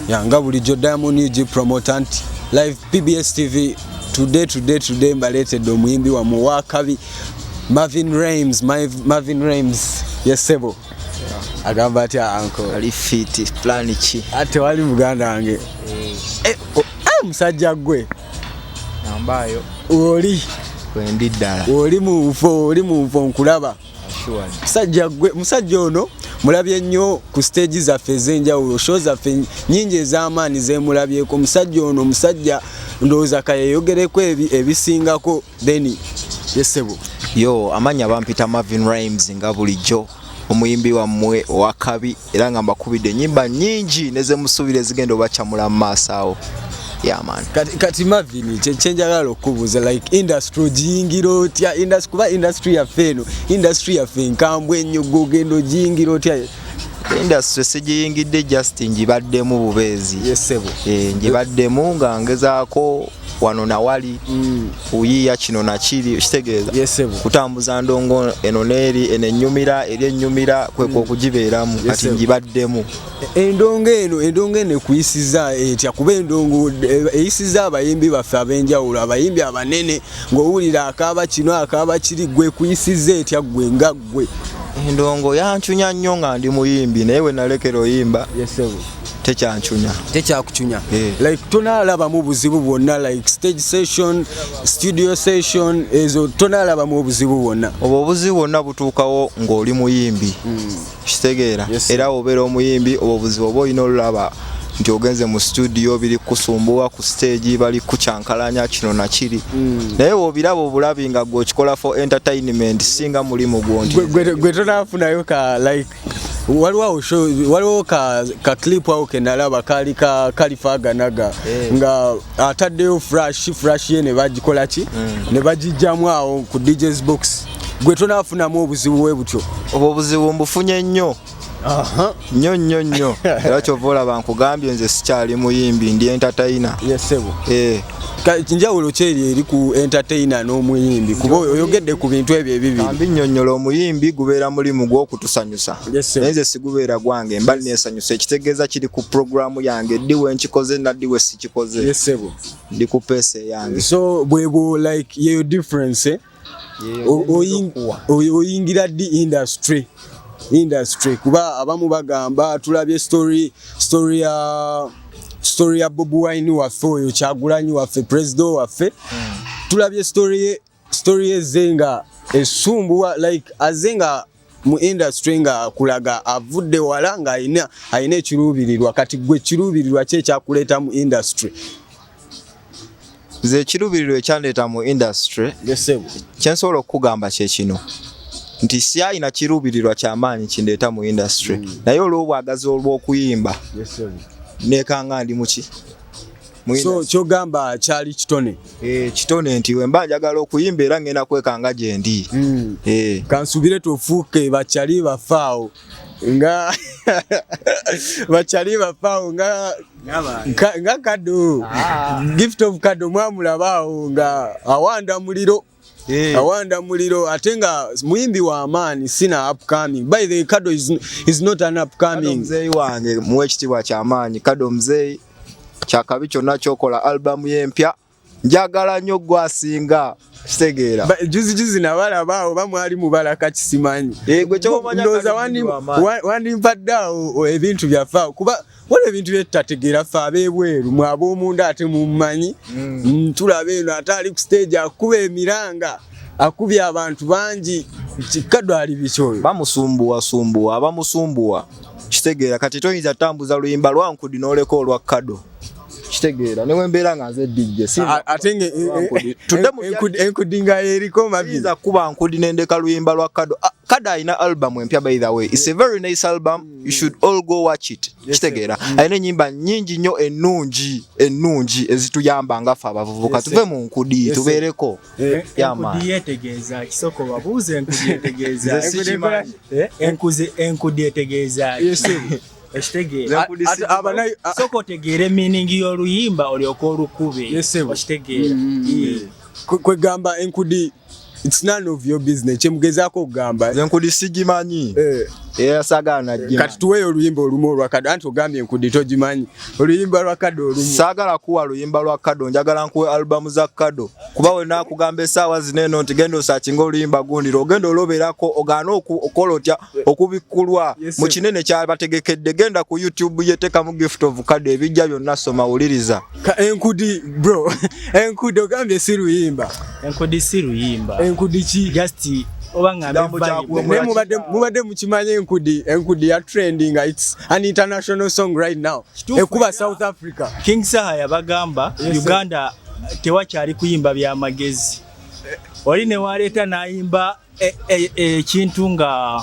ya nga bulijjo diamond ug promoter nti live pbs tv today today today mbaleetedde omuyimbi wamwe wakabi marvin rames marvin rames yesebo agamba atya anko ali fiti plan ki ate wali muganda wange eh. Eh, oh, eh, musajja gwe nambayo oli wendi ddala oli munfo oli munfo nkulaba musajja gwe musajja ono mulabye nnyo ku stage zaffe ez'enjawulo show zaffe nyingi ez'amaani zemulabyeko musajja ono musajja ndowooza kayeyogereko ebisingako then yesebo yo amanya bampita marvin rimes nga bulijjo omuyimbi wammwe owakabi era nga mbakubidde enyimba nyingi nezemusuubira ezigenda obacamula mu maaso awo yamani kati, kati mavini kyenjagala okubuuza like industry ogiyingira otya industry kuba industry yaffe eno industry yaffe nkambwe ennyo gogenda ogiyingira otya industry sigiyingidde just ngibaddemu bubeezi yes, eh, ngibaddemu nga ngezaako wano nawali mm. kuyiya kino nakiri kitegeeza yes, kutambuza ndongo eno neeri eno ennyumira eri ennyumira kwekwa mm. okugibeeramu yes, kati ngibaddemu e, endongo eno endongo eno ekuyisiza etya kuba endongo e, eyisiza abayimbi baffe ab'enjawulo abayimbi abanene ng'owulira akaaba kino akaaba kiri gwe kuyisiza etya gwe nga gwe endongo yancunya nnyo nga ndi muyimbi naye we nalekera oyimba yes, tekyancunya tekyakucunya eh. like tonalabamu obuzibu bwonna like stage session studio session ezo tonalabamu obuzibu bwonna obwo obuzibu bwonna butuukawo ng'oli muyimbi hmm. kitegeera era obeera omuyimbi obwo obuzibu oba olina olulaba nti ogenze mu studio biri kusumbuwa ku stage bali kukyankalanya kino nakiri mm. naye wobiraba obulabi nga gwe okikola for entertainment singa mulimu gwonti gwe tonafunayo ka like waliwo show waliwo ka, ka clip awo kenalaba kali ka kalifaganaga yeah. nga ataddeyo fresh fresh ye ne bagikola ki mm. ne bagijjamu awo ku DJ's box gwe tonafunamu obuzibu we butyo obwo obuzibu mbufunye nnyo nnyo nnyo nnyo era kyova olaba nkugambye nze sikyali muyimbi ndi entatayina yesebo eh. njawulo kyeri eri ku entertainer n'omuyimbi kuba oyogedde ku bintu ebyo ebibiri ambi nnyonnyola omuyimbi gubeera mulimu gw'okutusanyusa naye nze sigubeera gwange mba neesanyusa ekitegeeza kiri ku puroguramu yange ddi we nkikoze naddi we sikikoze ndi ku peesa eyange so bwebwo like yeyo difference eh? oyingira di industry industry kuba abamu bagamba tulabye story story ya uh, story ya Bob Wine waffe oyo kyagulanyi waffe president waffe hmm. tulabye story ye story ye zenga esumbuwa like azenga mu industry nga akulaga avudde wala nga alina alina ekiruubirirwa kati gwe ekiruubirirwa ki ekyakuleeta mu industry nze ekiruubirirwa ekyandeeta mu industry kye nsobola okukugamba kye kino nti sialina kiruubirirwa kyamaanyi kindeeta mu industry mm. naye olw'obwagazi olw'okuyimba nekanga ndi muki so kyogamba kyali kitone eh, kitone nti wemba njagala okuyimba era ngenda kwekanga gyendi mm. eh. kansubire tofuuke bakyali bafaawo nga bakyali bafaawo nga nga kado ah. gift of kado mwamulabaawo nga awanda muliro Eh. Awanda Muliro ate nga muyimbi wa maani sina upcoming. By the way, Kado is, is not an upcoming. Kado mzeyi wange muwe ekitiibwa kya maanyi. Kado mzeyi kyakabi kyonna kyokola album ye empya njagala nnyo gwasinga kitegeera juzi juzi nabalaba awo bamwali mubala kakisimanyi eh, ndowooza wandimpadde awo ebintu byaffe awo kuba waliwo ebintu byetutategeera fe abebweru mwe abomunda ate mummanyi mm. mm, tulaba eno ate ali ku stage akuba emiranga akubye abantu bangi kikadwali bikyoyo bamusumbuwasumbuwa abamusumbuwa kitegeera kati toyinza tambuza luyimba lwankudi noleka olwa kado kitegeera newe mbeera nga nze dj enkudi nga eriko mabiza kuba nkudi nendeka luyimba lwa kado ah, kado alina album empya by the way its a very nice album you should all go watch it kitegeera mm. alina enyimba nyingi nnyo ennungi ennungi ezituyamba nga fe abavubuka tuve mu nkudi tubeereko eh, enkudi etegeeza soka otegeere miningi y'oluyimba olyoka olukube okitegeera mm, mm, kwegamba enkudi It's none of your business. Kyemugezako okugamba. Nze nkudi sigimanyi. Eh. Era sagala nagimanyi. Kati tuweyo oluyimba olumu olwa kado anti ogambye nkudi togimanyi. Oluyimba lwa kado olumu. Sagala kuwa luyimba lwa kado njagala nkuwe album za kado. Kuba we nakugamba esaawa zineno nti genda osakinga oluyimba gundi ogenda oloberako ogana okukola otya okubikkulwa mu kinene kyabategekedde genda ku youtube yetekamu gift of kade ebijja byonna soma wuliriza enkudi bro enkudi ogambye si luyimba enkudi si luyimba enkudi ki just mubadde mukimanya enkudi enkudi ya trending its an international song right now ekuba south africa king saha yabagamba uganda tewakyali kuyimba byamagezi oli newaleeta nayimba Eh, eh, eh, ekintu e, e, nga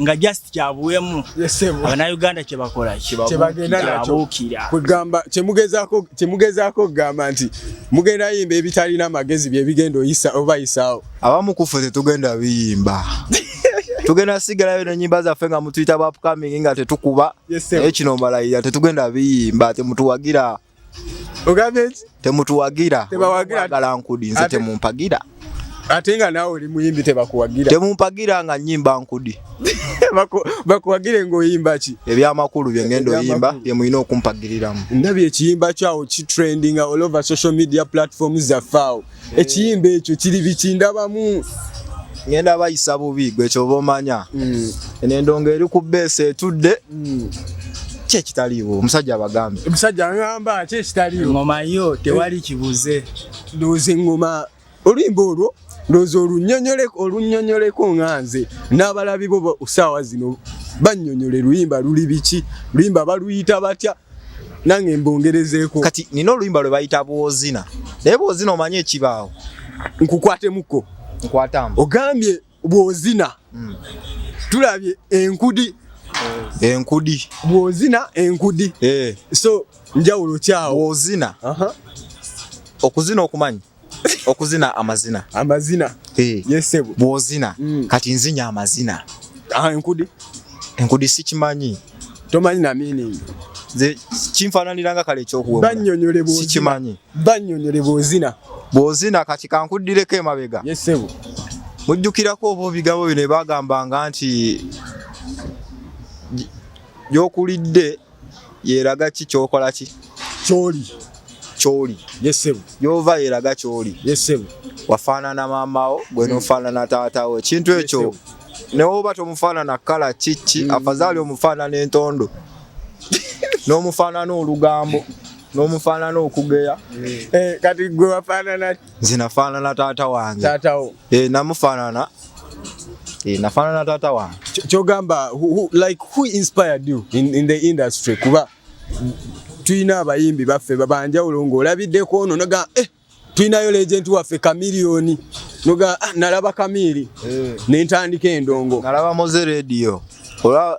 nga just kyabuwemu abanauganda kyebakola kyebabuukira kwegamba kyemugezaako okugamba nti mugenda yimba ebitalina amagezi byebigenda oyisa obayisaawo abamu kufe tetugenda biyimba tugenda sigalayo nenyimba zaffe nga mutuyita bapcoming nga tetukuba naye kino mbalayira tetugenda biyimba temutuwagira ogambye ki temutuwagira Tebawagira. Tebawagira nkudi nze Ate- temumpagira ate nga naawe oli muyimbi tebakuwagira temumpagira nga nyimba nkudi Baku- bakuwagire ng'oyimba ki ebyamakulu bye ngenda oyimba Ebyamakulu. bye mulina okumpagiriramu ndabye ekiyimba kyawo kitrendinga all over social media platforms zaffe awo ekiyimba ekyo kiri biki ndabamu ngenda bayisa bubi gwe kyoba omanya mm. eno endongo eri ku beesi etudde mm. ki ekitaliiwo omusajja abagambe omusajja aŋamba ki ekitaliiwo ngoma yo tewali kibuze ndowooza eŋŋoma oluyimba olwo ndowooza olunyonyoleko nga nze n'abalabi bo saawa zino banyonyole luyimba luli biki luyimba baluyita batya nange mbongerezeeko kati nina oluyimba lwe bayita bwozina naye bwozina omanye ekibaawo nkukwatemuko nkwatamu ogambye bwozina mm. tulabye enkudi enkudi bwozina enkudi eh. so njawulo kyawo bwozina okuzina okumanya okuzina amazina amazina hey. yesebo bwozina mm. kati nzinya amazina ah, enkudi enkudi sikimanyi tomanyi na meaning nze kinfaananira nga kale ekyokuwasikimanyi banyonyole bwozina bwozina kati kankuddireko emabega yesebo mujjukirako oba obigabo bino ebagambanga nti gyokulidde yeraga ki kyokola ki kyoli kyoli yesebo yova yeraga kyoli yesebo wafaanana maamawo gwe hmm. nofaanana taatawo ekintu ekyo newoba tomufaanana kala kiki hmm. afazaali omufaanana entondo n'omufaanana olugambo n'omufaanana okugeya hmm. eh, kati gwe wafaanana nze nafaanana taata wange taatawo Eh, namufaanana Eh, nafaanana taata wange Kyo- kyogamba who- who- like who inspired you in, in the industry kuba tulina abayimbi baffe babanjawulo ng'olabiddeko ono noga eh, tulinayo legenti waffe kamiliyoni noga ah, nalaba kamiiri nentandika endongo nalaba moze rediyo olaba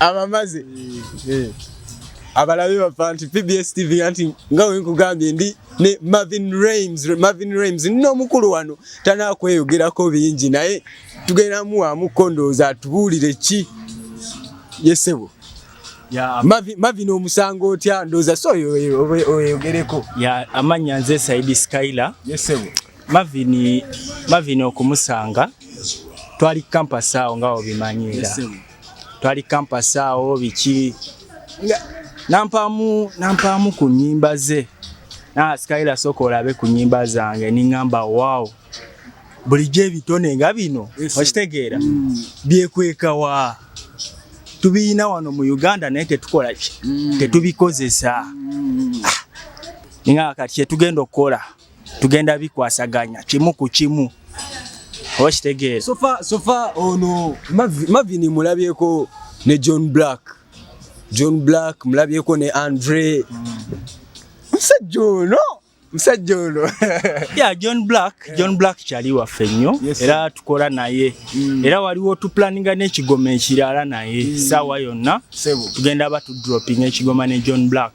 amamaze eh. abalabe bafa nti pbs tv anti nga wenkugambye ndi ne marvin rams marvin rams nina omukulu wano tanakweyogerako bingi naye tugendamu wamu kondooza atubuulire ki yesebo mavin omusango otya ndooza so oyogereko amannya nze saidi skyla yesebo Marvin Marvin okumusanga twali campus awo nga obimanyira twali campus awo biki nampamu nampamu ku nyimba ze na skyla soko olabe ku nyimba zange ningamba wow bulijjo ebitone nga bino okitegeera mm. byekweka wa tubiyina wano mu uganda naye tetukola ki mm. tetubikozesa mm. ah. nga kati kyetugenda okukola tugenda bikwasaganya kimu ku kimu okitegeera sofa sofa ono mavini mulabyeko ne john black john black mulabyeko ne andre musajja ono musajja ono ya john black john black kyali waffe nnyo era tukola naye mm. era waliwo tuplaninga n'ekigoma ekirala naye mm. saawa yonna tugenda batudropinga ekigoma ne john black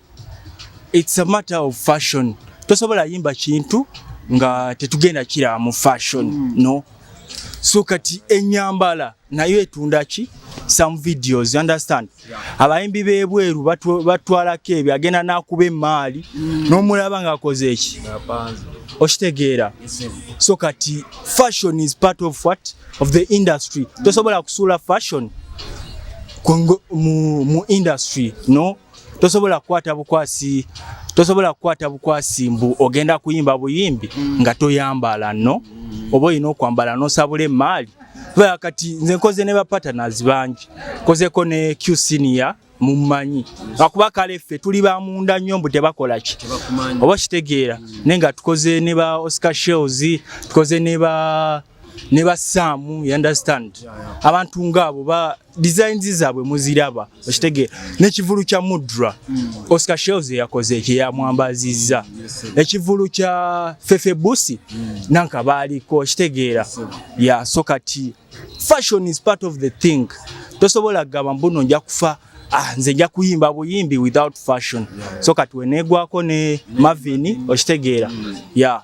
It's a matter of fashion. Tosobola yimba kintu nga tetugenda kira mu fashion mm. no so kati enyambala nayo etunda ki some videos you understand abayimbi bebweru batwalako ebyo agenda nakuba emaali mm. nomulaba nga akoze eki okitegeera so kati fashion is part of what of the industry mm. tosobola kusuula fashion mu industry no tosobola kukwata bukwasi tosobola kukwata bukwasi mbu ogenda kuyimba buyimbi nga toyambala no oba olina okwambala nosabula emaali baa kati nze nkoze ne bapatanaz bangi nkozeko ne q senior mumanyi akuba kale ffe tuli ba munda nnyo mbu tebakola ki oba kitegeera naye nga tukoze ne ba oscar shells tukoze ne ba ne ba saamu you understand abantu ngaabo ba designs zaabwe muziraba okitegeera nekivulu kya mudra hmm. oscar shells eyakoze ekyo yamwambazizza ekivulu kya fefe busi hmm. nanka baaliko okitegeera ya so kati fashion is part of the thing tosobola kugamba mbuno nja kufa ah, nze nja kuyimba buyimbi without fashion so kati weneegwako ne mavini okitegeera hmm. ya